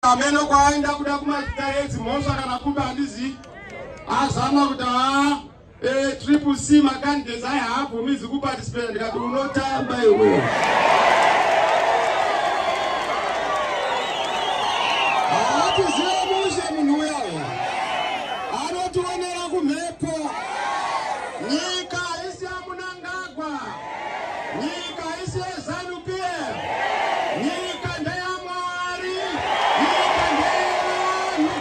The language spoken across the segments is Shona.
ameno kwaaenda kuda kumazita edzi mhosva kana kuba handizivi azama kuti haa eh, triple c macandidates ayi haabvumizi kuparticipate ndikati unotamba iwe haatiziva mushe munhu uya anotionera kumhepo nyika Nyika isi yezanu PF. Nyika ndeyamwari. Nyika ndeyevanhu.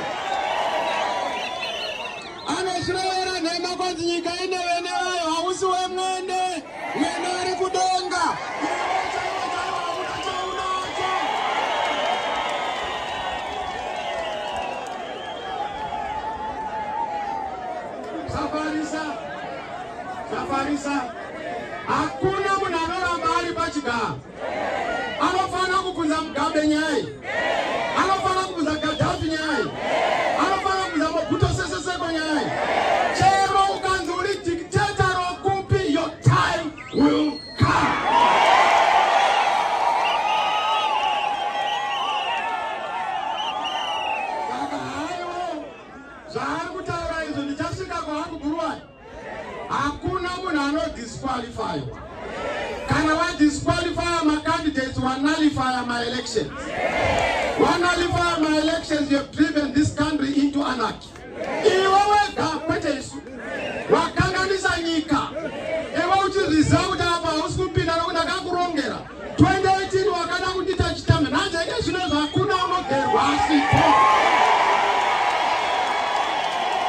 Anozvirevera nhema kwanzi nyika ine vene vayo hausi wemwene. Mwene ari kudenga. Safarisa. Safarisa. Hakuna munhu anoramba ari pachigaro. Anofanira kubvunza Mugabe nyaya. Anofanira kubvunza Gaddafi nyaya. Anofanira kubvunza Mobutu Sese Seko nyaya. Chero ukanzi uri dictator rokupi your time will come. Saka haiwo zvaari kutaura izvo ndichasvika kwaangu Buruwani. hakuna munhu anodisqualifywa kana wadisqualifya macandidates wanalifya maelections wanalifya maelections youhave driven this country into anarchy iwe wega kwete isu wakanganisa nyika iwe uchiresulta apa hausi kupinda nokuti akakurongera 2018 wakada kundita chitame nhanje ike zvino zvakuna unogerwa asipo